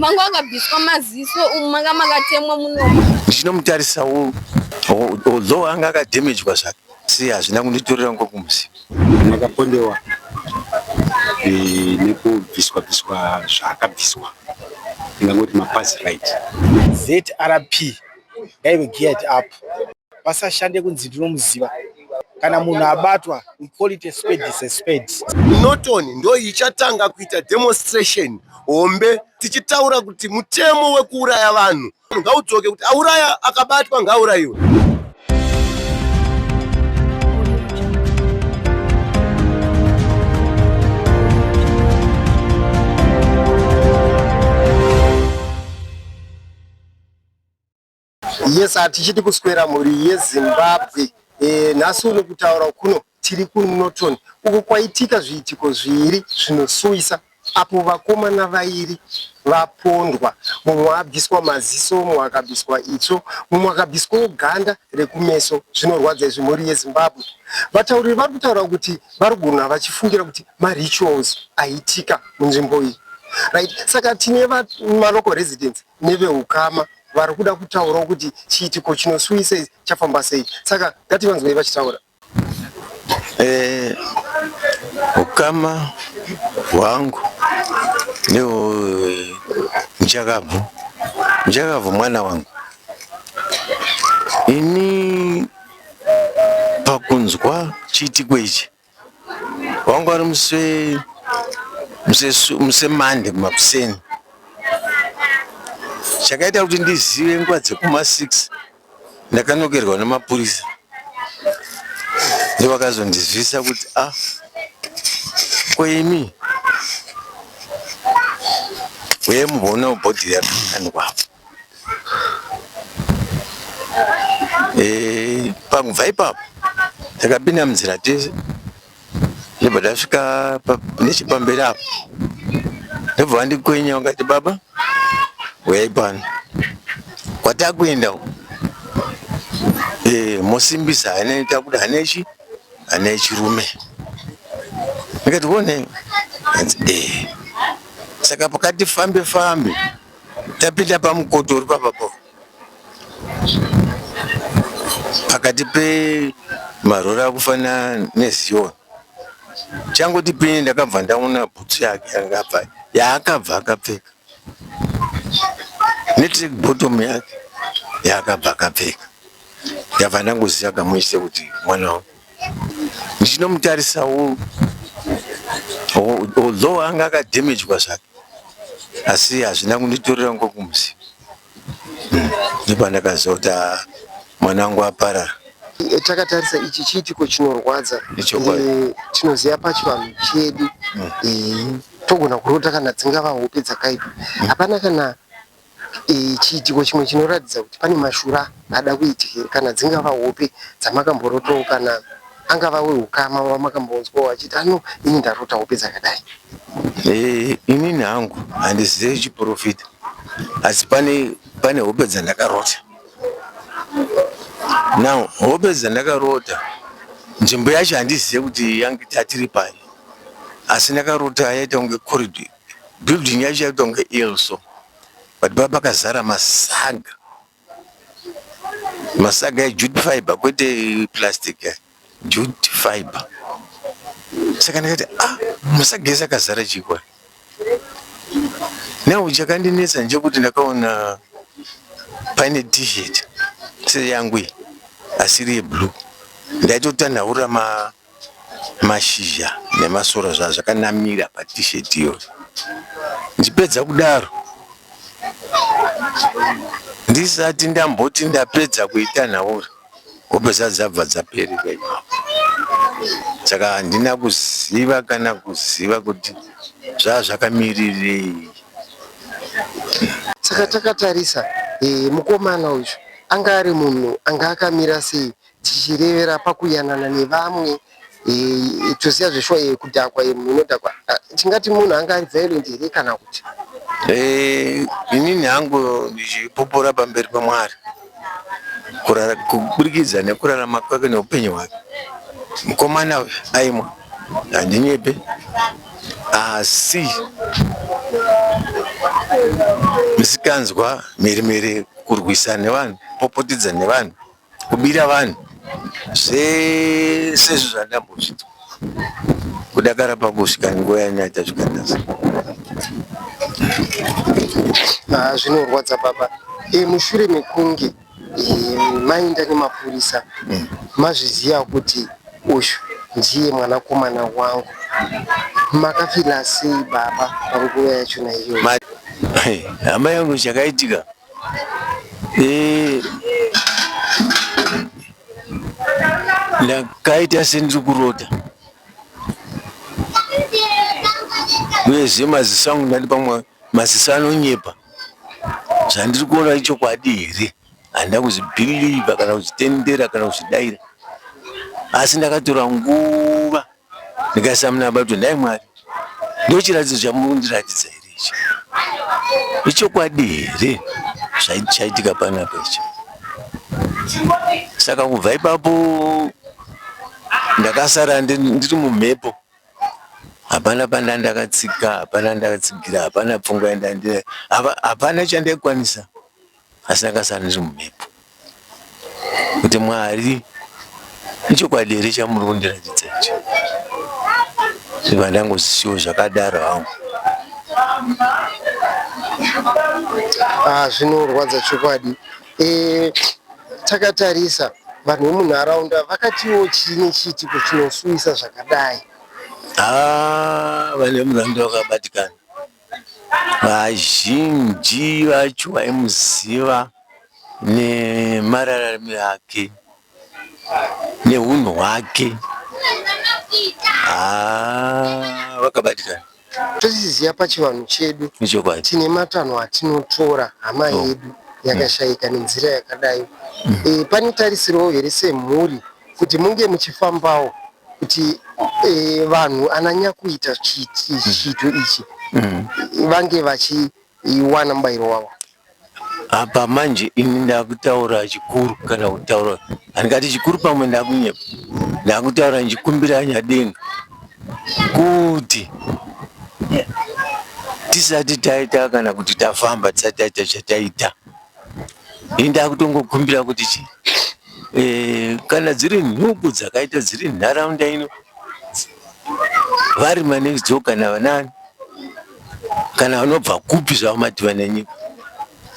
Mangu akabviswa maziso umu manga makatemwa munomu. Ndichinomutarisa uyu although anga akademejwa zvake si hazvina kunditorera ngo kumusi. Ndakapondewa eh, nekubviswa bviswa zvaakabviswa ndingangoti mapazi right. ZRP gave geared up. vasashande kunzi ndinomuziva kana munhu abatwa we call it a spade is a spade norton ndo ichatanga kuita demonstration hombe tichitaura kuti mutemo wekuuraya vanhu ngaudzoke kuti auraya akabatwa ngaaurayiwe Yes, hatichiti kuswera mhuri yeZimbabwe. E, nhasi uno kutaura kuno tiri kuNorton uko kwaitika zviitiko zviiri zvinosuwisa apo vakomana vairi vapondwa, mumwe abviswa maziso, mumwe akabviswa itsvo, mumwe akabviswawo ganda rekumeso. Zvinorwadza izvi mhuri yeZimbabwe. Vatauriri vari kutaura kuti vari kugona vachifungira kuti marituals aitika munzvimbo iyi right saka tine malocal residents neveukama vari kuda kutaurawo kuti chiitiko chinosuwisa ichi chafamba sei saka ngativanzwei vachitaura eh, ukama hwangu nehwemchakabvu eh, mchakabvu mwana wangu ini pakunzwa chiitiko ichi Wangu ari muse muse muse mande makuseni. Chakaita kuti ndizive nguva dzekuma 6 ndakanokerwa nemapurisa ndovakazondizivisa kuti ah koimi uye mubona bhodhi yakandwapo Eh, pakubva ipapo takapinda munzira tese ndobva tasvika nechepamberi apo ndobva vandikwenya vakati baba uyai pano kwatakuenda eh, mosimbisa hana takuda hana ichi hana ichirume ndikati one eh, saka pakati fambe fambe Tapinda pamukoto uri papapo pakati pemarori akufanira nezion changoti pini ndakabva ndaona bhutsu yake yanga abva yaakabva akapfeka netrick bottom yake yaakabva akapfeka ndabva ndangoziva kamuise kuti mwana wangu ndichinomutarisa although anga akadamagwa zvake asi hazvina kunditorera ngo kumusi hmm, ndopandakazota mwana wangu aparara takatarisa ichi chiitiko chinorwadza eh, tinoziva pachivanhu chedu hmm. eh, togona kurota kana dzingava hope dzakaipa hmm. hapana kana chiitiko chimwe chinoratidza kuti pane mashura ada kuitika here kana dzingava hope dzamakamborotoo kana angava weukama wamakamboonzwawo achiti ano ini ndarota hope dzakadai eh, inini hangu handizive chiprofita asi pane pane hope dzandakarota now hope dzandakarota nzvimbo yacho handizive kuti yange tatiri pai asi ndakarota yaita kunge corridor Building yacho yaitwa kunge ill so but pava pakazara masaga masaga ejute fiber kwete plastic jute fiber saka ndikati ah masaga ese akazara chikwa now chakandinetsa ndechekuti ndakaona paine t-shirt seyangu iyi asiri yeblue ndaitotanhaura ma mashizha nemasora zvazvo zvakanamira pa t-shirt iyoyo ndichipedza kudaro ndisati ndamboti ndapedza kuitanhaura hope dzacho dzabva dzaperera ipapo saka handina kuziva kana kuziva kuti zvaa zvakamirirei Saka takatarisa eh, mukomana uyu anga ari munhu anga akamira sei tichirevera pakuyanana nevamwe eh, toziva zveshuwa eh, kudhakwa eh, munhu unodhakwa Ah, tingati munhu anga ari violent here kana kuti Eh, inini hangu ndichipupura pamberi pamwari kurara- kuburikidza nekurarama kwake neupenyu hwake mukomana uyu aimwa handinyepe asi misikanzwa mhirimhiri kurwisana nevanhu popotidza nevanhu Kubira vanhu zvese izvo zvandambozvitwa kudakara pakusvika nguva yanaita zvikanasa ah, zvinorwadza baba e, mushure mekunge e, mainda nemapurisa hmm. mazviziva kuti uyu ndiye mwanakomana wangu makafila sei baba panguva yachona iyoyo hama yangu chakaitika Eh, ndakaita sendiri kurota uyezve maziso angu ndati pamwe maziso anonyepa zvandiri kuona ichokwadi here handina kuzvibhiliva kana kuzvitendera kana kuzvidaira asi ndakatora nguva ndikasamuna baba kuti ndai mwari ndochiratidzo chamuri kundiratidza here ichi ichokwadi here chaitika panapa ichi saka kubva ipapo ndakasara ndiri mumhepo hapana panda ndakatsika hapana ndakatsigira hapana pfungwa yandandira hapana chandaikwanisa Asi ndakasara ndiri mumhepo kuti Mwari ichokwadi here chamuri kundiratidza ichi zvibva ndangozisiwo zvakadaro hangu ah, zvinorwadza chokwadi e, takatarisa vanhu vemunharaunda vakatiwo chii nechiitiko chinosuwisa zvakadai ah, vanhu vemunharaunda vakabatikana Vazhinji vacho vaimuziva nemararamiro ake neunhu hwake haa vakabatikana Tozviziva pachivanhu chedu nechokwadi. tine matanho atinotora hama Oh. yedu yakashaika nenzira yakadai. Eh, pane tarisirwo here semhuri kuti munge muchifambawo kuti eh, vanhu ananya kuita chiito ichi mm. vange vachiwana mubayiro wavo apa manje ini ndakutaura chikuru kana kutaura handikati chikuru pamwe ndakunyepa ndakutaura ndichikumbira nyadenga kuti tisati taita kana kuti tafamba tisati taita chataita ini ndakutongokumbira kuti chi e, kana dziri nhubu dzakaita dziri nharaunda ino vari manext door kana vanani kana vanobva kupi zvavo mativa nenyika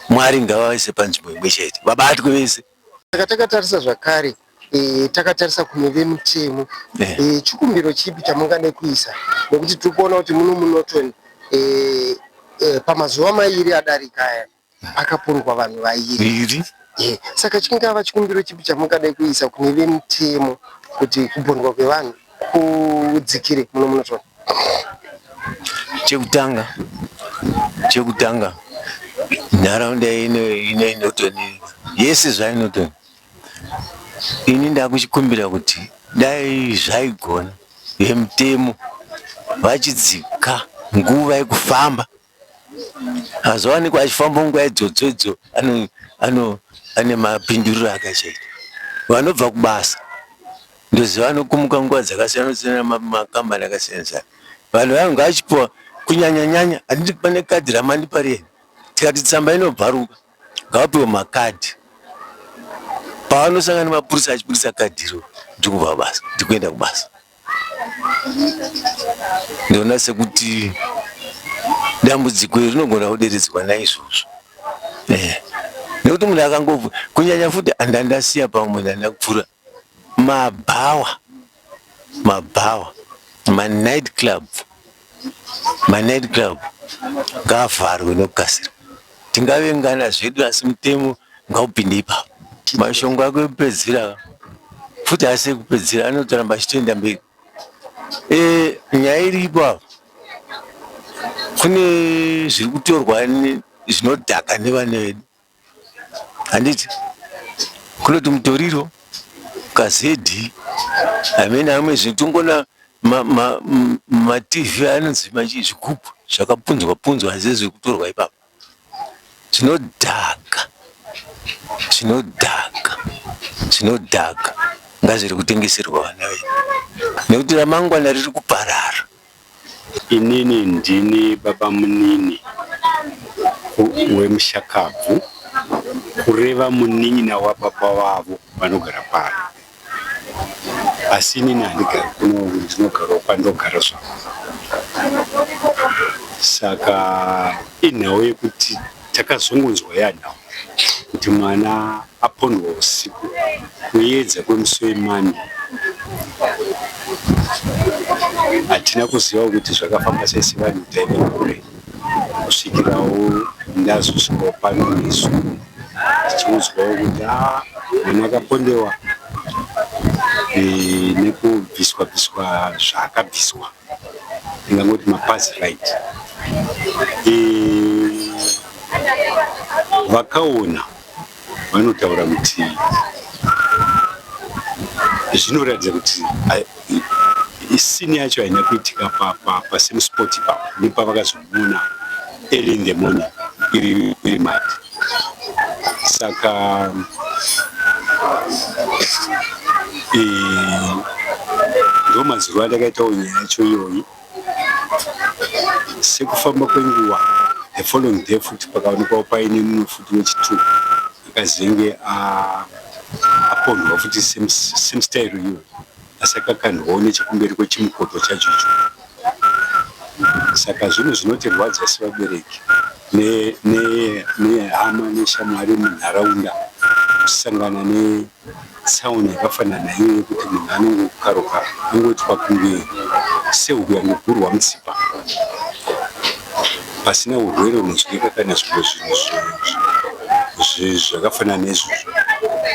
mwari ngavaise panzvimbo imwe chete vabatwe vese saka takatarisa zvakare e, takatarisa kune vemutemo yeah. e, chikumbiro chipi chamungade kuisa nekuti tiri kuona kuti muno munotoni e, e, pamazuva mairi adarika aya Pakapondwa vanhu vairi. Ehe, saka chingava chikumbiro chipi chamungadai kuisa kune vemutemo kuti kupondwa kwevanhu kudzikire muno munotonha? Chekutanga, chekutanga nharaunda ino ino inotoni yese zvainotoni ini ndakuchikumbira kuti dai zvaigona vemutemo vachidzika nguva yekufamba azowanikwa achifamba nguva idzodzo idzo ane mapinduriro akachaita vanobva kubasa ndoziva vanokumuka nguva dzakasiyana siyana makambani akasiyana siyana vanhu vayo ngaachipiwa kunyanya nyanya handiti pane kadhi ramandipa riye tikati tsamba inobvaruka ngavapiwe makadhi pavanosangana nemapurisa achipurisa kadhiro ndikubva basa ndikuenda kubasa Ndoona sekuti dambudziko iri rinogona kuderedzwa naizvozvo eh. nekuti munhu akangobva kunyanya futi andandasiya pamwe ndandakupfura mabhawa mabhawa manight club manight club ngaavharwe nekukasira tingavengana zvedu asi mutemo ngaupinde ipapo mashongo ako ekupedzisira futi asi ekupedzisira anotoramba achitoenda mberi e, nyaya iripo apo kune zviri kutorwa zvinodhaka nevana vedu handiti kunoti mutoriro kazedhi amene amwe zvitongona matv anonzi machi zvigubhu zvakapunzwa punzwa asi zviri kutorwa ipapo zvinodhaka zvinodhaka zvinodhaka ngazviri kutengeserwa vana vedu nekuti ramangwana riri kuparara. Inini ndini babamunini wemushakabvu, kureva munin'ina wababa vavo vanogara pano. Asi inini handigari kuno uku, ndinogarawo kwandogara zvangu. Saka inhau yekuti. Takazongonzwa yada kuti mwana apondwa usiku kuyedza kwemusi wemande. Hatina kuziva kuti zvakafamba sei sevanhu taive kure kusvikirawo ndazosvikawo pano nesu tichiudzwawo kuti a mwana akapondewa nekubviswa bviswa zvaakabviswa. ndingangoti mapasi right vakaona vanotaura kuti zvinoratidza kuti isini yacho haina kuitika pasame spot ipapo nepavakazo Muna early in the morning iri iri mad saka eh, ndo mazuva andakaitawo nyaya yacho iyoyi sekufamba kwenguva the following day futi pakaonekwawo paine mumwe futi wechitwo akazenge a ah, aponhwa futi same style iyoyi Asi akakandwawo nechekumberi kwechimukoto chacho icho. Saka zvinhu zvinotirwadza sevabereki nehama neshamwari munharaunda kusangana netsaona yakafanana iyo yekuti munhu anongokaruka angoitwa kunge sehuku yangogurwa mutsipa. pasina urwere unodyika kana zvimwe zvinhu zvakafanana nezvozvo.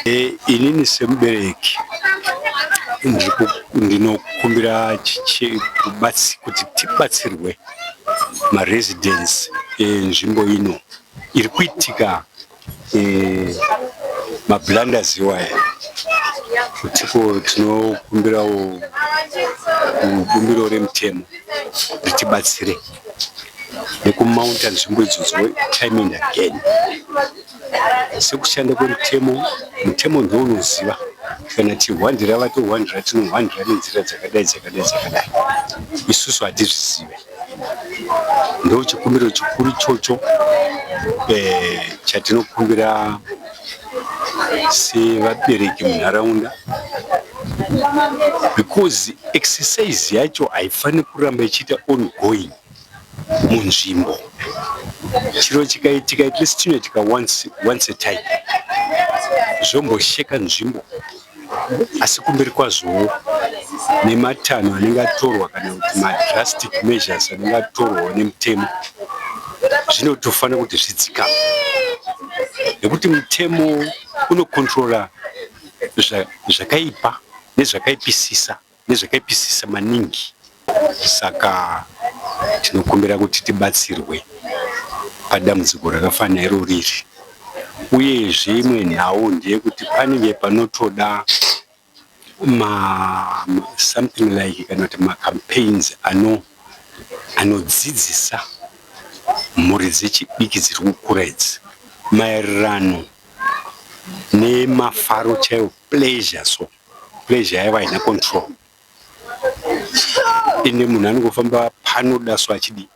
E, inini semubereki ndinokumbira kuti tibatsirwe maresidence enzvimbo ino iri kuitika mablunders iwaya kutiko tinokumbirawo bumbiro remutemo ritibatsire nekumaunta nzvimbo idzodzo time and again sekushanda kwemutemo mutemo ndounoziva kana tihwandira vatohwandira tinohwandira nenzira dzakadai dzakadai dzakadai isusu hatizvizive Ndo chikumbiro chikuru chocho eh, chatinokumbira sevabereki munharaunda because exercise yacho haifaniri kuramba ichiita ongoing munzvimbo chiro chikaitika at least tinoitika once, once a time zvombosheka nzvimbo asi kumberi kwazvowo nematanho anenge atorwa kana kuti madrastic measures anenge atorwawo nemutemo zvinotofanira kuti zvidzikama nekuti mutemo unokontrola zvakaipa nezvakaipisisa nezvakaipisisa maningi saka tinokumbira kuti tibatsirwe padambudziko rakafana iro riri uyezve imwe nhau ndeyekuti panenge panotoda ma, ma, something like kana kuti macampaigns ano anodzidzisa mhuri dzechidiki dziri kukura idzi maererano nemafaro chaiwo pleasure so pleasure yaiva haina control ende munhu anongofamba panoda so achidi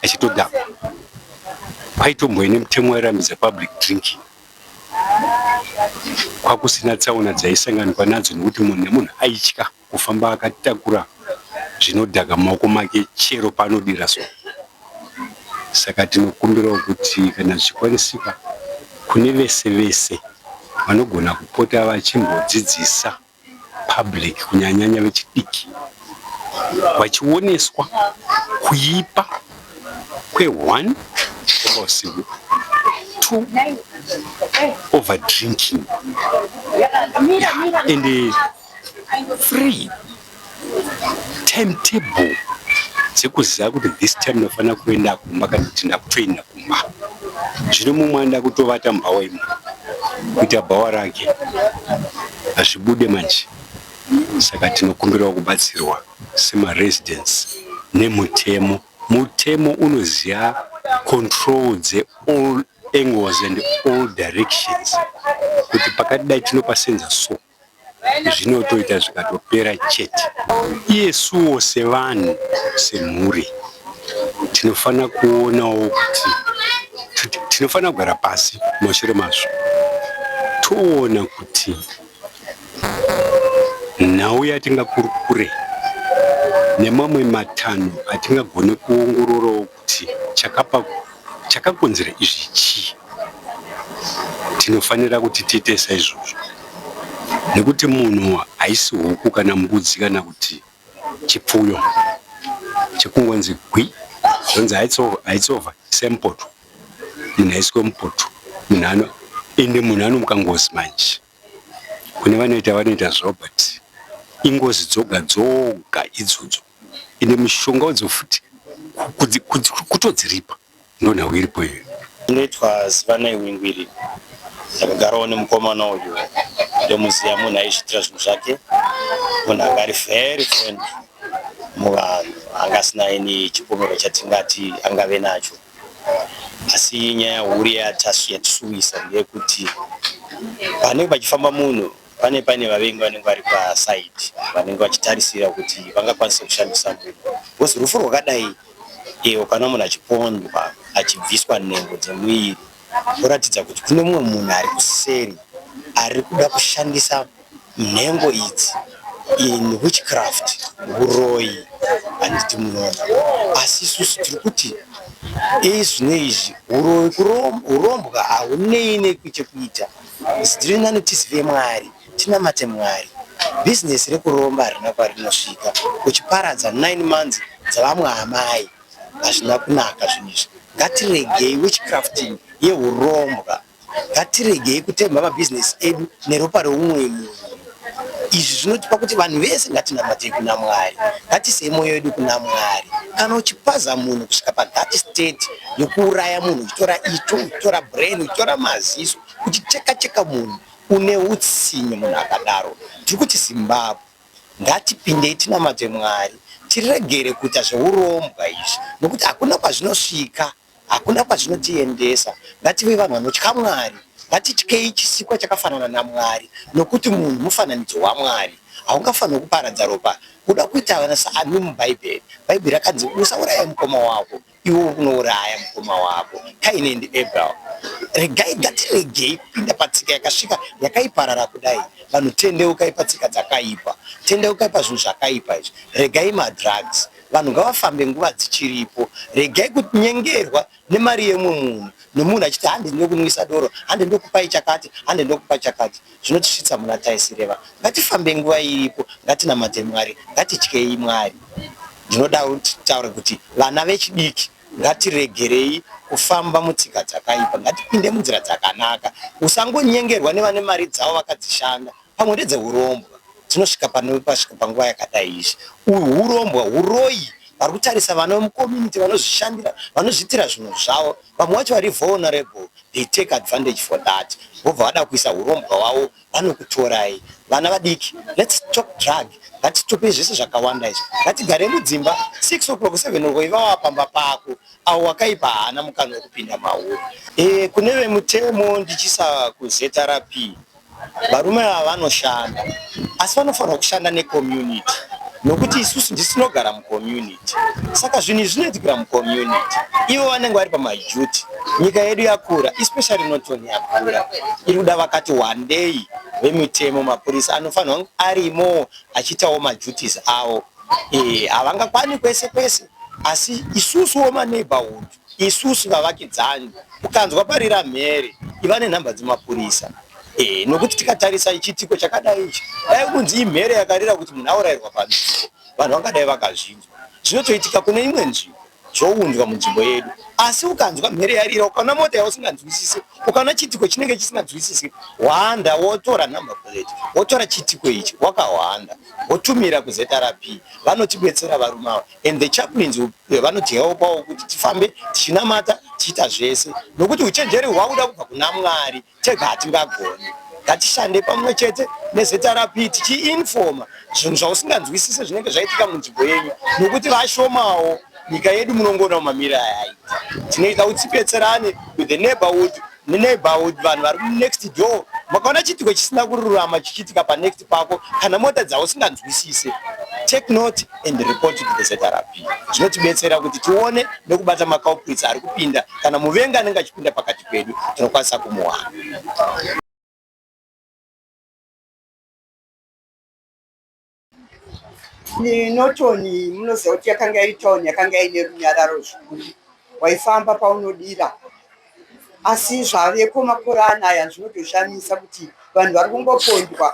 achitodhakwa kwaitomboe nemutemo wairambidza public drinking kwakusina tsaona dzaisanganikwa nadzo nekuti munhu nemunhu aitya kufamba akatakura zvinodhaka mumaoko make chero paanodira so Saka tinokumbirawo kuti kana zvichikwanisika kune vese vese vanogona kupota vachimbodzidzisa public kunyanyanya vechidiki vachioneswa kuipa kwe one kukomba usiku two over drinking ende three timetable dzekuziva kuti this time ndofanira kuenda kumba kana kuti ndakutoenda kumba zvino mumwe anoda kutovata mubhawa imo kuita bhawa rake hazvibude manje saka tinokumbirawo kubatsirwa semaresidence nemutemo mutemo unoziva control dzeall angles and all directions kuti pakati dai tinopasenza so zvinotoita zvikatopera chete. Iyesuwo sevanhu, semhuri tinofanira kuonawo kuti tinofanira kugara pasi mushure mazvo toona kuti nhau yatingakurukure nemamwe matanho atingagone kuongororawo kuti chakapa chakakonzera izvi chii tinofanira kuti tiite saizvozvo nekuti munhu haisi huku kana mbudzi kana kuti chipfuyo chekungonzi gwi zvonzi haitsova semupoto munhu aiswe mupoto munhu ano ende munhu anomuka ngozi manje Kune vanoita vanoita zvavo but ingozi dzoga dzoga idzodzo ende mushonga wadzo futi kutodziripa ndonhau iripo iyo inoitwa zivanai wingu iri ndakagarawo nemukomana uyu ndomuziva munhu aizviitira zvinhu zvake munhu anga ari very friend muvanhu anga asina ini chipomero chatingati angave nacho asi nyaya huru yatasu yatisuwisa ndeyekuti panenge pachifamba munhu pane paine vavengi vanenge vari pasaidi vanenge vachitarisira kuti vangakwanise kushandisa munhu bcause rufu rwakadai iyo kana munhu achipondwa achibviswa nhengo dzemuviri kuratidza kuti kune mumwe munhu ari kuseri ari kuda kushandisa Nhengo idzi in witchcraft huroyi handiti munoona asi isusu tiri kuti izvi neizvi huroyi hurombwa haunei nekuchekuita zitiri nani tizive mwari tinamate mwari business rekuromba harina kwarinosvika uchiparadza 9 months dzavamwe amai hazvina kunaka zvinhu izvi ngatiregei witchcrafting yehurombwa ngatiregei kutemba mabhizinesi edu neropa reumwe munhu izvi zvinotipa kuti vanhu vese ngatinamatei kuna mwari ngatisei mwoyo yedu kuna mwari kana uchipaza munhu kusvika pathat state yokuuraya munhu uchitora itsvo uchitora brain uchitora maziso uchiteka cheka munhu une utsinye munhu akadaro tiri kuti zimbabwe ngatipindei tinamate mwari tiregere kuita zveurombwa izvi nokuti hakuna kwazvinosvika Hakuna kwazvinotiendesa. Ngative vanhu vanotya Mwari. Ngatityei chisikwa chakafanana naMwari, nokuti munhu mufananidzo waMwari. Haungafaniri kuparadza ropa. Kuda kuita vana saani muBhaibheri? Bhaibheri rakanzi, Usauraya mukoma wako, iwe uri kunouraya mukoma wako. Kaini and Abel. Regai, ngatiregei kupinda patsika yakasvika yakaiparara kudai. Vanhu tendeukai patsika dzakaipa. Tendeukai pazvinhu zvakaipa izvi. Regai madrugs. Vanhu ngavafambe nguva dzichiripo. Regai kunyengerwa nemari yemumwe munhu nomunhu achiti hande ndinokunwisa doro, hande ndokupai chakati, hande ndokupa chakati. Zvinotisvitsa muna Taisireva. Ngatifambei nguva iripo, ngatinamate Mwari, ngatityei Mwari. Ndinoda kuti titaure kuti vana vechidiki ngatiregerei kufamba mutsika dzakaipa, ngatipinde munzira dzakanaka. Usangonyengerwa nevane mari dzavo vakadzishanda pamwe ndedzehurombwa dzinosvika pasvika panguva yakadai izvi hurombwa huroyi vari kutarisa vana vemucommunity vanozvishandira vanozviitira zvinhu zvavo vamwe vacho vari vulnerable they take advantage for that vobva vada kuisa urombwa wavo vanokutorai vana vadiki lets talk drug ngatitope zvese zvakawanda izvi ngatigare mudzimba six o'clock seven o'clock ivava pamba pako avo wakaipa haana mukana wekupinda mauri e, kune vemutemo ndichisa kuzrp Varume ava vanoshanda asi vanofanirwa kushanda necommunity nokuti isusu ndisu tinogara mucommunity saka zvinhu izvi zvinoitikira mucommunity ivo vanenge vari pamaduty nyika yedu yakura especially notoni yakura iri kuda vakati wandei vemitemo mapurisa anofanirwa kunge arimo achiitawo maduties avo eh, havangakwani kwese kwese asi isusuwo maneighborhood isusu vavakidzani ukanzwa parira mhere iva nenhamba dzemapurisa e, nokuti tikatarisa ichiitiko chakadai ichi dai kunzi imhere yakarira kuti munhu aurayirwa pamisi vanhu vangadai vakazvinzwa zvinotoitika kune imwe nzvimbo zvounzwa munzvimbo yedu asi ukanzwa mhere yarira ukaona mota yausinganzwisise ukaona chiitiko chinenge chisinganzwisise hwanda wotora number plate wotora chiitiko ichi wakahwanda wotumira kuzrp vanotibetsera varume ava and the chaplains eh, vanotihelpawo kuti tifambe tichinamata tichiita zvese nokuti uchenjeri hwakuda kubva kuna mwari tega hatingagoni ngatishande pamwe chete nezrp tichiinfoma zvinhu zvausinganzwisise zvinenge zvaitika munzvimbo yenyu nokuti vashomawo nyika yedu munongoona mumamiri ayaita tinoita kuti tipetserane with the neighborhood muneighborhood vanhu vari munext door makaona chiitiko chisina kururama chichiitika panext pako kana mota dzavo singanzwisise take note and report to the zrp zvinotibetsera kuti tione nekubata maculprits ari kupinda kana muvengi anenge achipinda pakati pedu tinokwanisa kumuwana Norton munoziva kuti yakanga iri town yakanga ine runyararo zvikuru, waifamba paunodira asi zvaveko makore anaya zvinotoshamisa kuti vanhu vari kungopondwa,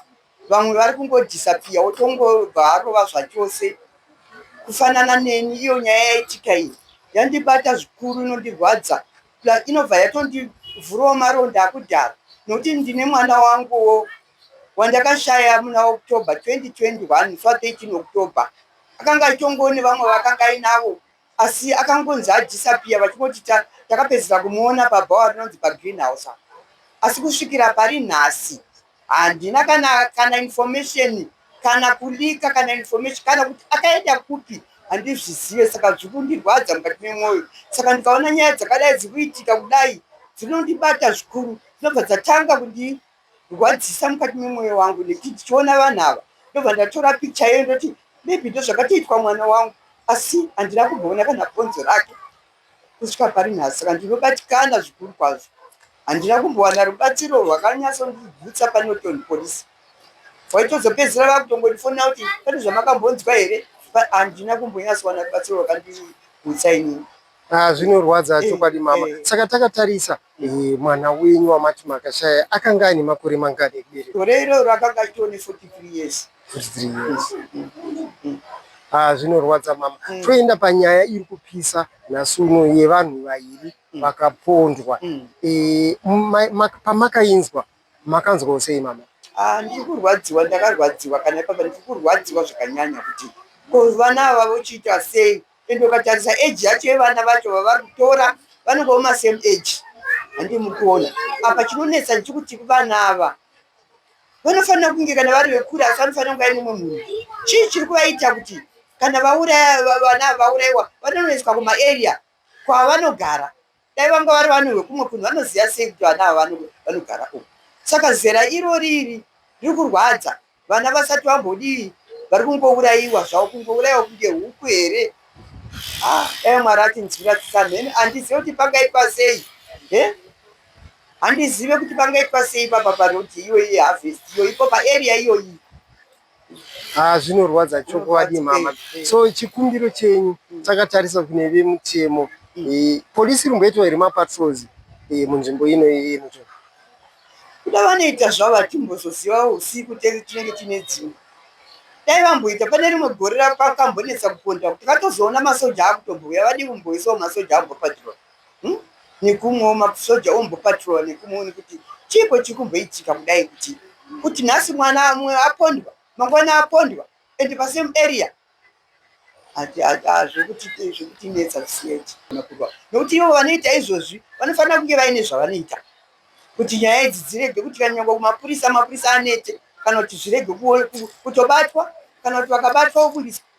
vamwe vari kungodhisapiya wotongobva arova zvachose kufanana neni. Iyo nyaya yaitika iyi yandibata zvikuru, inondirwadza plus inobva yatondivhurawo maronda akudhara nokuti ndine mwana wanguwo. wandakashaya muna October 2021 fa 13 October akanga achitongo nevamwe vakanga ainavo asi akangonzi adhisapiya vachingoti takapedzisa kumuona pabhawa rinonzi pagreenhouse asi kusvikira pari nhasi handina kana kana information kana kulika kana information kana kuti akaenda kupi handizvizive saka zviri kundirwadza mukati memwoyo saka ndikaona nyaya dzakadai dziri kuitika kudai dzinondibata zvikuru dzinobva dzatanga kundi rwadzisa mukati memwoyo wangu nekuti ndichiona vanhu ava ndobva ndatora picha yeyo ndoti maybe ndozvakatoitwa mwana wangu asi handina kumboona kana bhonzo rake kusvika pari nhasi saka ndinobatikana zvikuru kwazvo handina kumbowana rubatsiro rwakanyasondibvutsa panoton police waitozopedzisira vakutongondifonera kuti pane zvamakambonzwa here handina kumbonyatsowana rubatsiro rwakandibvutsa inini ah, zvinorwadza eh, chokwadi mama eh. saka takatarisa Mwana wenyu wamati makashaya akanga aine makore mangani ekuberekwa? Gore iroro akanga achitove ne 43 years. 43 years. Ah, zvinorwadza mama. Mm. Toenda panyaya iri kupisa nhasi uno yevanhu vaviri mm. vakapondwa. Mm. E, pamakainzwa makanzwawo sei mama? Ah, ndiri kurwadziwa, ndakarwadziwa kana ipapa ndiri kurwadziwa zvakanyanya kuti ko vana ava vochiita sei ende ukatarisa age yacho yevana vacho vavari kutora vanenge voma same age handii muri kuona apa chinonetsa ndichikuti vana ava vanofanira kunge kana vari vekure asi vanofanira kunge aine umwe munhu chii chiri kuvaita kuti kana vauraya vana vauraiwa vanonoiswa kumaarea kwavanogara Dai vanga vari vanhu vekumwe kunhu vanoziva sei kuti vana ava vanogara uku. Saka zera irori iri riri kurwadza. Vana vasati vambodii vari kungourayiwa zvavo kungourayiwa kunge huku here. Ah, dai Mwari atinzwira tsitsa mhene. Handizive kuti pangaitwa sei. He? Handizive kuti pangaitwa sei papa paroti iyoyi harvest iyoyi ipo paarea iyoyi. Ah, zvinorwadza chokwadi mama. So chikumbiro chenyu takatarisa kune vemutemo. Eh, polisi rimboitwa here mapatrols eh, munzvimbo ino iyi mucho. kuda vanoita zvavo hatimbozozivawo usiku tenge tinenge tine dzimwe dai vamboita pane rimwe gore rakambonetsa kuponda kuti vatozoona masoja akutobouya vadi kumboisawo masoja ambopatirwa hmm? nekumwewo masoja ombopatrola nekumwewo nekuti chiiko chiri kumboitika kudai kuti kuti nhasi mwana amwe apondwa mangwana apondwa and pasame area zvekutinetsa zvisiyeti nokuti ivo vanoita izvozvi vanofanira kunge vaine zvavanoita kuti nyaya idzi dzirege kuti kana nyangwa kumapurisa mapurisa anete kana kuti zvirege kutobatwa kana kuti vakabatwa vobudiswa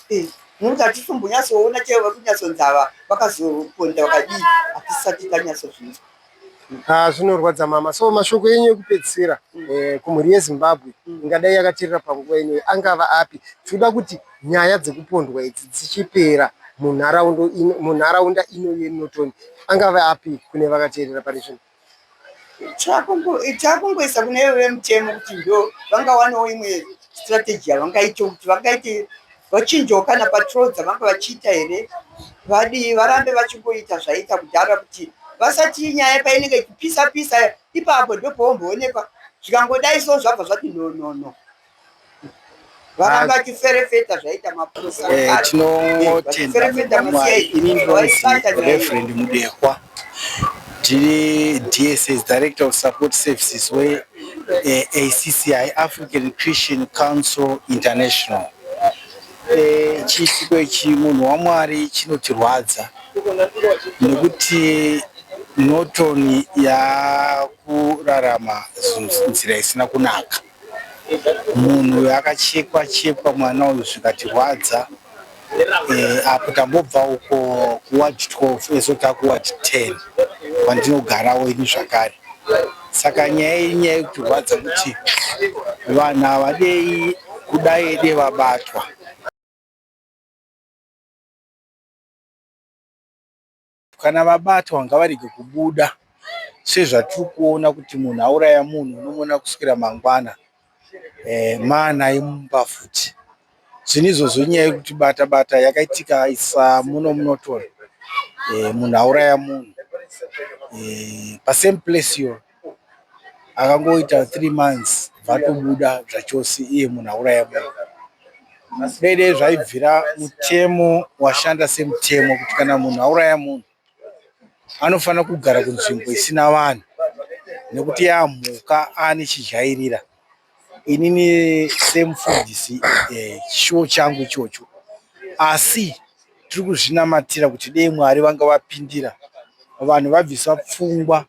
Eh, munhu katisombonyatsoona chaivo vakunyatsonzava vakazoponda vakadii hatisati tanyatsozvinzwa Ah, zvinorwadza mama so mashoko enyu ekupedzisira eh, kumhuri yezimbabwe ingadai yakaterera panguva ino angava api tinoda kuti nyaya dzekupondwa idzi dzichipera munharaunda ino- munharaunda ino yenorton angava api kune vakateerera pari zvino chakungoisa kune vemutemo kuti ndo vangawanawo imwe strategy yavangaite kuti vangaite vachinjawo kana patrol dzavanga vachiita here vadii varambe vachingoita zvaiita kudhara kuti vasati nyaya painenge ichipisa pisa ipapo ndopoomboonekwa zvikangodai so zvabva zvati no no no varamba vachiferefeta zvaita maprosareverend mudehwa tiri dss director of support services we eh, acci african christian council international eh, chiitiko ichi munhu wamwari chinotirwadza nekuti norton yakurarama nzira isina kunaka Munhu uyu akachekwa chekwa mwana uyu zvikatirwadza eh, apo tambobva uko kuward 12 ezo takuward 10 kwandinogarawo ini zvakare saka nyaya iyi nyaya yekutirwadza kuti vanhu havadei kudai ede vabatwa Kana vabatwa ngavarege kubuda sezvatiri kuona kuti munhu auraya munhu unomuona kuswera mangwana eh, mana imumba futi zvinhu izvozvo nyaya yekuti bata bata yakaitika isa muno munotora eh, munhu auraya munhu eh, pasame place iyoyo akangoita three months vatobuda zvachose iye munhu auraya munhu dai dai zvaibvira mutemo washanda semutemo kuti kana munhu auraya munhu anofanira kugara kunzvimbo isina vanhu nekuti yaamhuka ane chidyairira inini semufundisi eh, chishuwo changu ichocho asi tiri kuzvinamatira kuti dei mwari vanga vapindira vanhu vabvisa pfungwa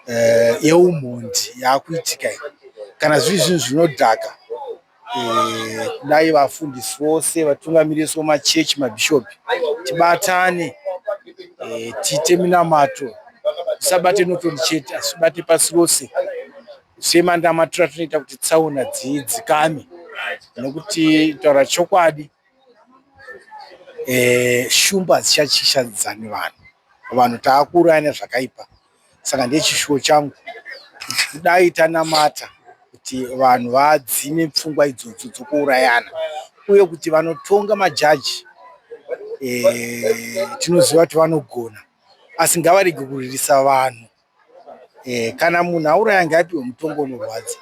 eh, yeumhondi yaakuitika iyi kana zviri zvinhu zvinodhaka eh, kudai vafundisi vose vatungamiriri so machechi mabhishopi tibatane eh, tiite minamato tisabate notoni chete asi tibate pasi rose Semandamatura tinoita kuti tsaona dzidzikame nokuti taura chokwadi eh, shumba hadzichachishadzani vanhu vanhu taakuuraya nezvakaipa saka ndechishuwo changu kudai tanamata kuti vanhu vadzime pfungwa idzodzo dzokuurayana uye kuti vanotonga majaji eh, tinoziva kuti vanogona asi ngavarege kuririsa vanhu Eh, kana munhu auraya ngaapiwe mutongo unorwadza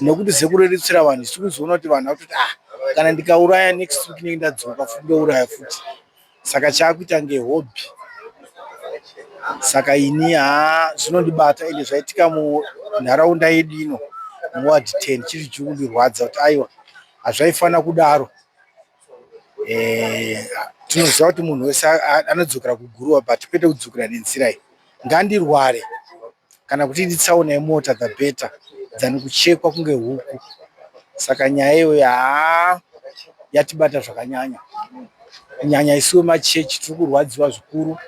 nekuti sekuru edu tsira vanhu isu kuzoona kuti vanhu vakutoti ah kana ndikauraya next week nenge ndadzoka futi ndouraya futi saka chaakuita ngehobby saka ini haa zvinondibata ende zvaitika munharaunda yedu ino muward ten chiri chiri kundirwadza kuti aiwa hazvaifanira kudaro eh, tinoziva kuti munhu wese anodzokera kuguruva but kwete kudzokera nenzira iyi ngandirware kana kuti idi tsaona yemota the better dzani kuchekwa kunge huku saka nyaya iyoyo haa yatibata zvakanyanya kunyanya isuwe machechi tiri kurwadziwa zvikuru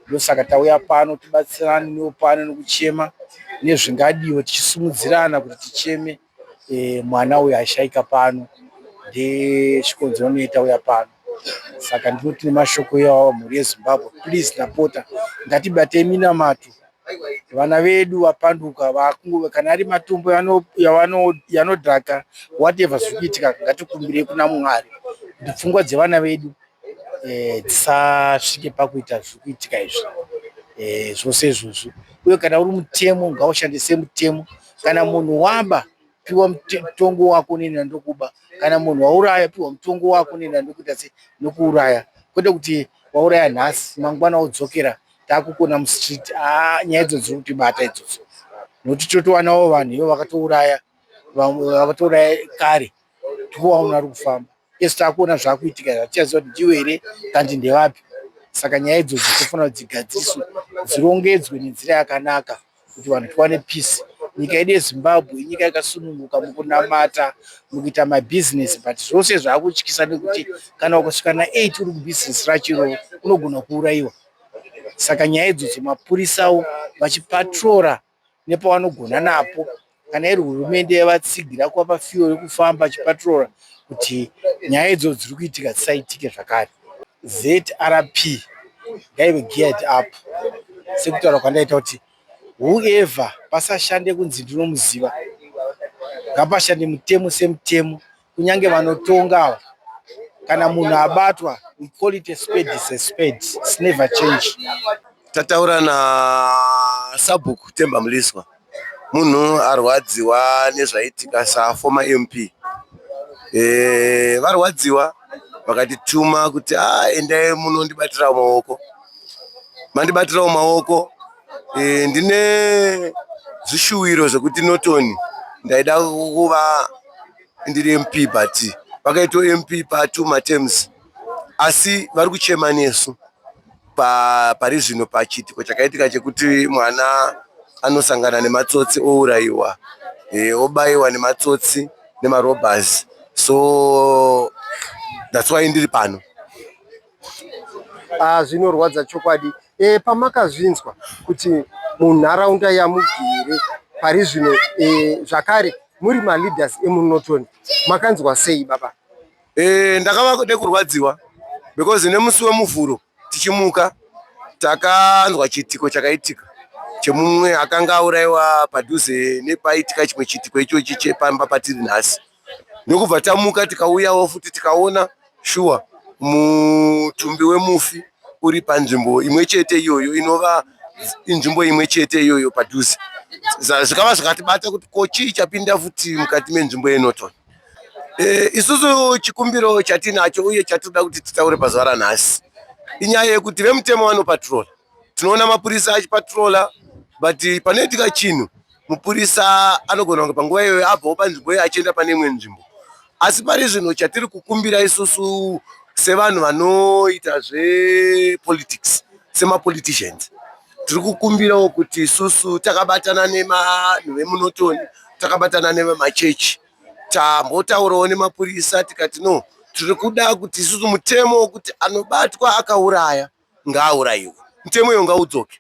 ndosaka tauya pano tibatsirane newo pano nekuchema nezvingadiwe tichisimudzirana kuti ticheme e, mwana uyu aishaika pano ndesvikonzero noita uya pano saka ndinoti nemashoko iwawa mhuri yezimbabwe please ndapota ngatibatei minamato vana vedu vapanduka vakungo kana ari matumbu yanodhaka whatever zviri kuitika ngatikumbirei kuna mwari kuti pfungwa dzevana vedu eh, dzisasvike e, pakuita zviri kuitika izvi e, zvose izvozvo uye kana uri mutemo ngaushandise mutemo e, kana munhu waba piwa mutongo wako nina ndokuba kana munhu wauraya piwa mutongo wako nina ndokuita se nokuuraya kwete kuti wauraya nhasi mangwana wodzokera takukona mustreet ah, nyaya idzo dziri kutibata idzodzo nokuti totowanawo vanhu ivo vakatouraya vakatouraya kare tikuona munhu ari kufamba ese takuona zvakuitika zvatichaziva kuti ndiwe here kandi ndevapi saka nyaya idzo dzitofana kuti dzigadziriswe dzirongedzwe nenzira yakanaka kuti vanhu tiwane peace nyika yedu yezimbabwe inyika yakasununguka mukunamata mukuita mabhizinesi but zvose zvakutyisa nekuti kana ukasvika na8 uri kubhizinesi rachiro unogona kuurayiwa saka nyaya idzo dzemapurisawo vachipatrora nepavanogona napo kana iri hurumende yavatsigira kuvapa fiyo yekufamba chipatrora kuti nyaya idzo dziri kuitika dzisaitike zvakare zrp ngaive geared up sekutaura kwandaita kuti whoever pasashande kunzi ndinomuziva ngapashande mutemo semutemo kunyange vanotonga ava kana munhu abatwa we call it a spade is a spade it's never change tataura na sabhuku temba muliswa munhu arwadziwa nezvaitika saformer mp e, eh, varwadziwa vakatituma kuti a ah, endai munondibatirawo maoko mandibatirawo maoko e, ndine zvishuwiro zvekuti notoni ndaida kuva ndiri mp but vakaito mp patu matems asi vari kuchema nesu pa, pari zvino pachiitiko chakaitika chekuti mwana anosangana nematsotsi ourayiwa e, obayiwa nematsotsi nemarobhers so that's why ndiri pano Ah, zvinorwadza chokwadi e, pamakazvinzwa kuti munharaunda yamugere pari zvino e, zvakare muri maleaders emunoton makanzwa sei baba e, ndakava nekurwadziwa because nemusi wemuvhuro tichimuka takanzwa chiitiko chakaitika chemumwe akanga auraiwa padhuze nepaitika chimwe chiitiko ichochi chepamba patiri nhasi ndokubva tamuka tikauyawo futi tikaona shuwa mutumbi wemufi uri panzvimbo imwe chete iyoyo inova inzvimbo imwe chete iyoyo padhuze zvikava zvakatibata kuti ko chii chapinda futi mukati menzvimbo yenoton e, eh, isusu chikumbiro chatinacho uye chatinoda kuti titaure pazuva ranhasi inyaya yekuti vemutemo vanopatrola tinoona mapurisa achipatrola but panoitika chinhu mupurisa anogona kunge panguva iyoyo abvawo panzvimbo iyoyo achienda pane imwe nzvimbo asi pari zvino chatiri kukumbira isusu sevanhu vanoita zvepolitics semapoliticians tiri kukumbirawo kuti isusu takabatana nevanhu vemunotoni takabatana nevemachechi tambotaurawo nemapurisa tikati no tiri kuda kuti isusu mutemo wekuti anobatwa akauraya ngaaurayiwe, mutemo uyo ngaudzoke.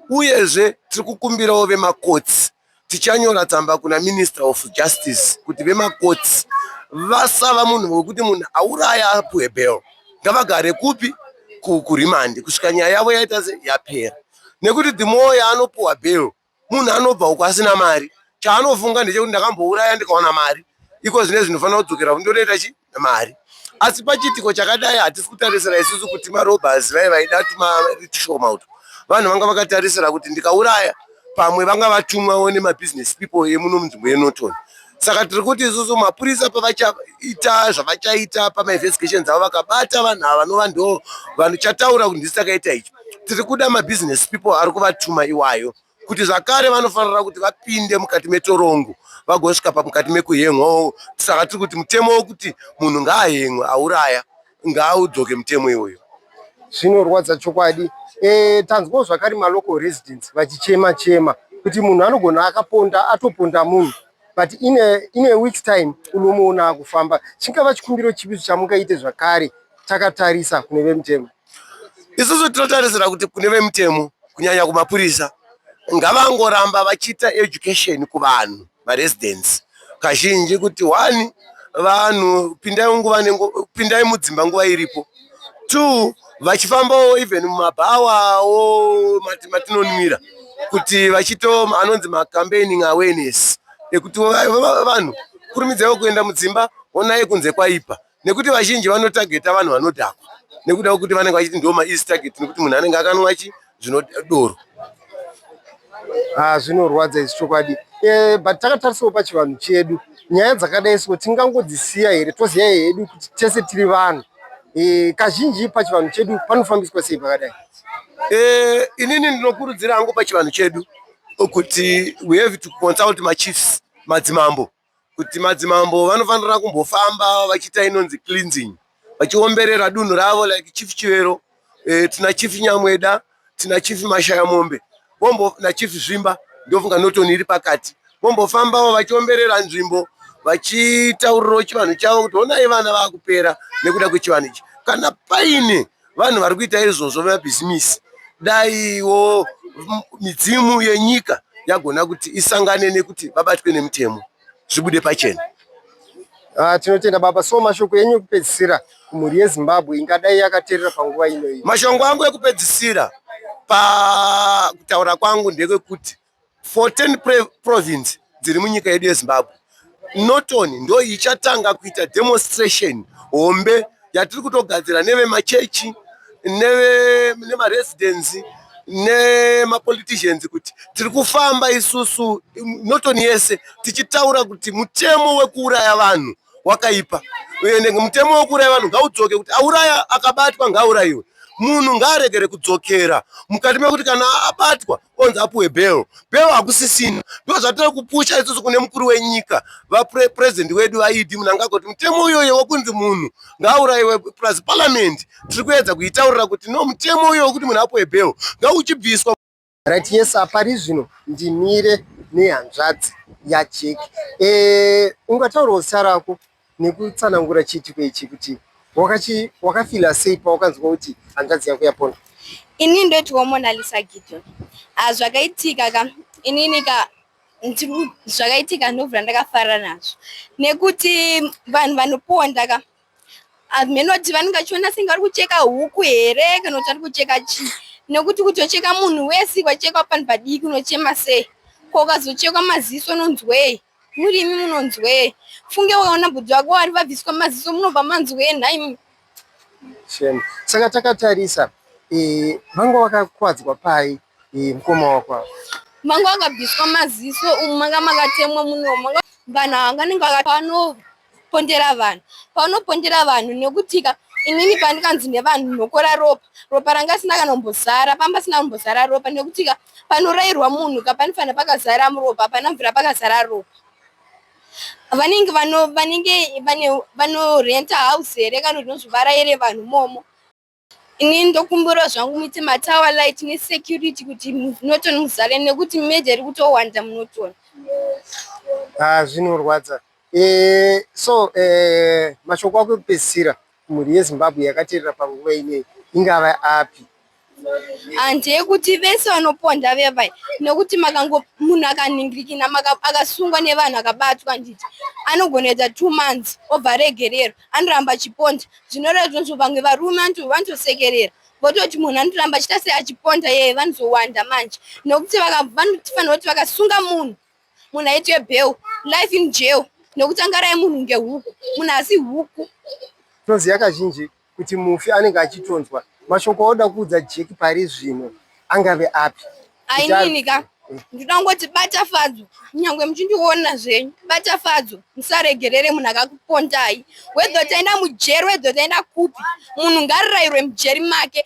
Uyezve tiri kukumbirawo vemakotsi, tichanyora tsamba kuna Minister of Justice kuti vemakotsi vasava munhu wekuti munhu auraya apuwe bail. Ngavagare kupi? Kurimandi kusvika nyaya yavo yaita sei? Yapera. Nekuti the more yaanopuwa bail Munhu anobva uko asina mari, chaanofunga ndechekuti ndakambouraya ndikawana mari, iko zvine zvinofanira kudzokera kuti ndotoita chi mari. Asi pachiitiko chakadai hatisi kutarisira isusu kuti marobhers vai vaida tumari tushoma utu. Vanhu vanga vakatarisira kuti ndikauraya pamwe vanga vatumwawo nemabhizinesi people emuno munzvimbo yeNorton. saka tiri kuti isusu mapurisa pavachaita zvavachaita pamainvestigations avo vakabata vanhu ava vanova ndo vanhu chataura kuti ndisi takaita ichi tiri kuda mabusiness people ari kuvatuma iwayo kuti zvakare vanofanira kuti vapinde mukati metorongo vagosvika pamukati mekuhengwa saka tiri kuti mutemo wokuti munhu ngaahengwe auraya Ngaudzoke mutemo iwoyo. Zvinorwadza chokwadi. Eh, tanzwawo zvakare ma local residents vachichema chema kuti munhu anogona akaponda atoponda munhu but in a, in a week's time unomuona akufamba. Chingava chikumbiro chipi chamungaite zvakare takatarisa kune vemutemo? Isusu tinotarisira kuti kune vemutemo kunyanya kumapurisa ngavangoramba vachiita education kuvanhu maresidents kazhinji kuti one vanhu pindai nguva pindai mudzimba nguva iripo two vachifambawo even mumabhawawo matinonwira kuti vachito anonzi macampaigning awareness ekuti vanhu kurumidzaiwo kuenda mudzimba onai kunze kwaipa nekuti vazhinji vanotageta vanhu vanodhakwa nekuda kwekuti vanenge vachiti ndo maeasy target nekuti munhu anenge akanwa chi zvinodoro ah, zvinorwadza izvi chokwadi eh, but takatarisawo pachivanhu chedu nyaya dzakadai so tingangodzisiya here toziva hedu kuti tese tiri vanhu eh, kazhinji pachivanhu chedu panofambiswa sei pakadai eh, inini ndinokurudzira hangu pachivanhu chedu kuti we have to consult machiefs madzimambo kuti madzimambo vanofanira kumbofamba vachiita inonzi cleansing vachiomberera dunhu ravo like chief chivero eh, tina chief nyamweda tina chief mashaya mombe vombo na chief zvimba ndofunga notoni iri pakati vombofambawo vachiomberera nzvimbo vachitaurirawo chivanhu chavo kuti honai vana vakupera nekuda kwechivanhu ichi kana paine vanhu vari kuita izvozvo vemabhizimisi daiwo midzimu yenyika yagona kuti isangane nekuti vabatwe nemutemo zvibude pachena ah, tinotenda baba so mashoko enyu ekupedzisira kumhuri yezimbabwe ingadai yakaterera panguva inoyi mashongo angu ekupedzisira pakutaura kwangu ndekwekuti 14 pre- province dziri munyika yedu yezimbabwe norton ndo ichatanga kuita demonstration hombe yatiri kutogadzira nevemachechi neve- nemaresidents nemapoliticians kuti tiri kufamba isusu im- norton yese tichitaura kuti mutemo wekuuraya vanhu wakaipa ende mutemo wekuuraya vanhu ngaudzoke kuti auraya akabatwa ngaaurayiwe munhu ngaaregere kudzokera mukati mekuti kana abatwa onzi apuwe bhero bhero hakusisina ndo zvatiri kupusha isusu kune mukuru wenyika vapurezidendi wedu vaidi munangagwa kuti mutemo uyoyo wekunzi munhu ngaaurayiwe plus paramend tiri kuedza kuitaurira kuti no mutemo uyoyo wekuti munhu apuwe bhero ngauchibviswa right yes apari zvino ndimire nehanzvadzi yajeki e, ungataurawo zita rako nekutsanangura chiitiko ichi kuti wakachi wakafila sei pawakanzwa kuti hanzvadzi yako yapondwa ini ndoti wamonalisa gideon ah, zvakaitika ka inini ka zvakaitika ndovura ndakafara nazvo nekuti vanhu vanoponda ka hameno kuti vanenge vachiona senge vari kucheka huku here kana kuti vari kucheka chii nekuti kuti wacheka munhu wese wachekwa panhu padiki unochema sei ko ukazochekwa maziso unonzwei muri imi munonzwei funge wakaona bhudhi vako vari vabviswa maziso munobva manzwei nhaimi shame saka takatarisa eh, vanga vakakwadzwa pai eh, mukoma wako ava manga wakabviswa maziso umu manga makatemwa munomu vanhu ava vanenge vakapano pondera vanhu paunopondera vanhu nekutika inini pandikanzi nevanhu nokora ropa ropa ranga asina kana kumbozara pamba asina kumbozara ropa nekutika panorairwa munhu ka panofanira pakazara muropa pana mvura pakazara ropa vanenge vanenge vanorenta house here kana kuti nozvivara here vanhu momo Ini ndokumbura zvangu muite matower light nesecurity kuti munoton muzare nekuti meja iri kutowanda munoton. Ah, zvinorwadza. Eh, so eh, mashoko ako ekupedzisira mhuri yezimbabwe yakateerera panguva inei ingava api handeyekuti vese vanoponda vevai nekuti makango munhu akanhingirikina akasungwa nevanhu akabatwa handiti anogonoita two months obva aregererwa anoramba achiponda zvinoreva tinonzwa vamwe varume vanotosekerera vototi munhu anoramba achita sei achiponda yeye vanozowanda manje nokuti vanofanira kuti vakasunga munhu munhu aitwe bheu life in jail nokuti angarai munhu ngehuku munhu asi huku toziva kazhinji kuti mufi anenge achitonzwa mashoko oda kuudza jeki pari zvino angave api ainini ka ndinoda kungoti bata fadzo nyangwe muchindiona zvenyu bata fadzo musaregerere munhu akakupondai wedho taenda mujeri wedho taenda kupi munhu ngarirairwe mujeri make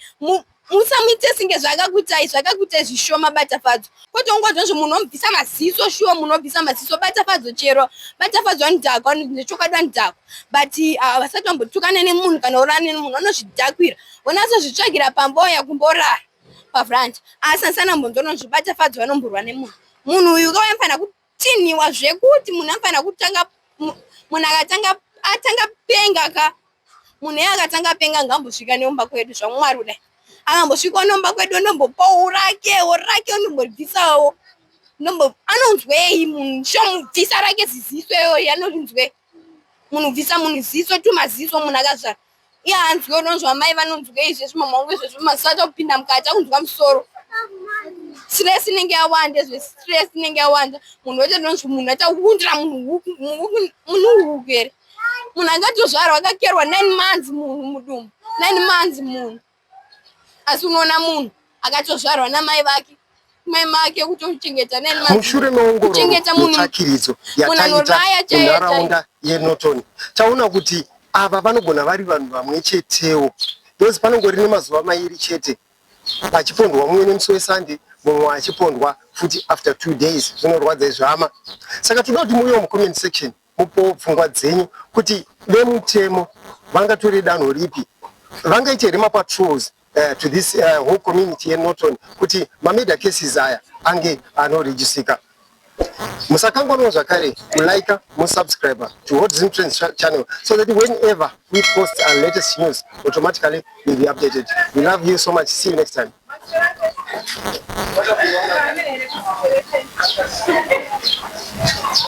musamuite singe zvakakuitai zvakakuitai zvishoma bata fadzo kwete ungonzwa zve munhu omubvisa maziso shuwa munhu obvisa maziso bata fadzo chero bata fadzo anodhakwa nechokwadi anodhakwa but ah, vasati vambotukana nemunhu kana urane nemunhu anozvidakwira unatsozvitsvagira pamboya kumborara pafront asi asana mbonzi unozvibata fadzi vanomborwa nemunhu munhu uyu ukauya mfanira kutinhiwa zvekuti munhu amfanira kutanga munhu akatanga atanga penga ka munhu iye akatanga penga ngambosvika neumba kwedu zvamwari kudai akambosvika unomba kwedu unombopa urake urake unombobvisawo anonzwei munhu shomubvisa rake ziziso iyoyo anonzwei munhu bvisa munhu ziso tumaziso munhu akazvara iye anzwe unonzwa amai vanonzwa izvezvi mama wangu izvezvi maziso acha kupinda mukati akunzwa musoro stress inenge yawanda izve stress inenge yawanda munhu wete ndonzwi munhu achakuundira munhu uhuku here munhu angatozvarwa akakerwa nine months munhu mudumbu nine months munhu asi unoona munhu akatozvarwa namai vake mai make kutochengeta mushure meongorotsvakiridzo yataita munharaunda yenorton taona kuti ava vanogona vari vanhu vamwe chetewo because panongori nemazuva mairi chete achipondwa mumwe nemusi wesande mumwe achipondwa futi after two days zvinorwadza izvama saka toda kuti muuye mucomment section Mupowo pfungwa dzenyu kuti vemutemo vangatore danho ripi, vangaite here mapatrols uh, to this uh, whole community yeNorton kuti mamurder cases aya ange anorejisika. Musakanganwa zvakare kulike musubscribe to Hot Zim Trends channel so that whenever we post our latest news automatically you'll be updated. We love you so much. See you next time.